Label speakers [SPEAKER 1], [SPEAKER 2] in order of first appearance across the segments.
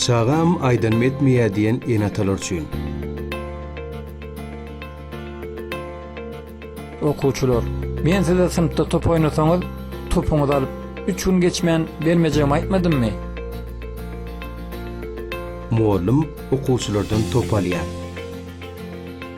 [SPEAKER 1] Çagam aýdanym etmeýär diýen ene-atalar üçin.
[SPEAKER 2] Okuwçylar, men size synpda top oýnasaňyz, topuňyzy alyp, üç gün geçmän bermejegimi aýtmadymmy?
[SPEAKER 1] Mugallym okuwçylardan top alýar.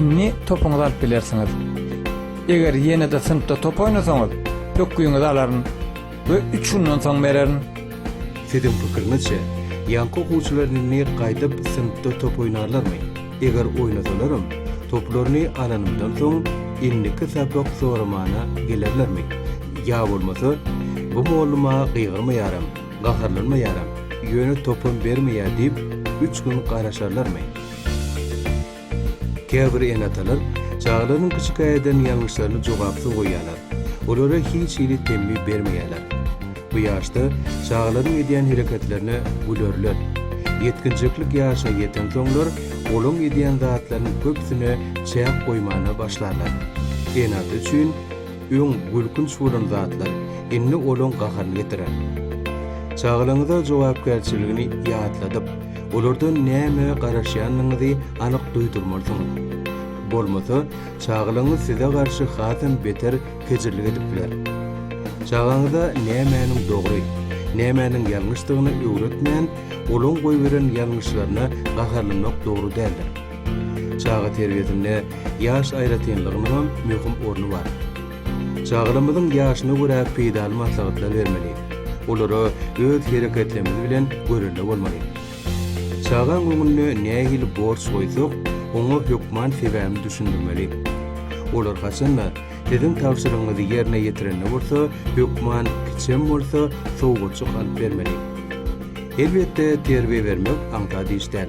[SPEAKER 2] Indi topuňyzy alyp bilersiňiz. Eger ýene-de synpda top oýnasaňyz, pökgiňizi alaryn we üç gündan soň bererin. Siziň
[SPEAKER 1] pikiriňizçe, ýaňky okuwçylar indi gaýdyp synpda top oýnarlarmy? Eger oýnasalaram, toplaryny alanymdan soň, indiki sapak soramana gelerlermi? Ýa bolmasa, Bu mollum-a gygyrmaýaram, gaharlanmaýaram, ýöne topam bermeýär diýip, üç gün garaşarlarmy? Käbir ene-atalar çagalarynyň kiçikä eden ýalňyşlaryny jogapsyz goýýarlar, olara hiç hili temmi bermeýärler. Bu ýaşda çagalaryň edýän hereketlerine gülerler. Ýetginjeklik ýaşyna ýetensoňlar, olaň edýän zatlarynyň köpüsine çäk goýmana başlarlar. Ene-ata üçin. Öň gülkünç bolan zatlar, indi olaň gaharyny getirer. Çagalaryňyza jogapkärçiligini ýatladyp, olardan nämä garaşýandygyňyzy anyk duýdurmalysyňyz. Bolmasa, çagalaryňyz size garşy hasam beter kejirlik edip biler. Çagaňyza nämäniň dogry, nämäniň ýalňyşdygyny öwretmän, olaň goýberen ýalňyşlaryna gaharlanmak dogry däldir. Çaga terbiýesinde ýaş aýratynlygynyň hem möhüm orny bar. Çagalarymyzyň ýaşyna görä peýdaly maslahatlar bermeli, olara öz hereketlerimiz bilen görelde bolmaly. Çagaň öňünde nähili borç goýsak, oňa hökman sebäbini düşündirmeli. Olar haçan-da, siziň tabşyrygyňyzy ýerine ýetirende bolsa, hökman kiçem bolsa, sowgatjyk alyp bermeli. Elbetde, terbiýe bermek aňsat iş däl.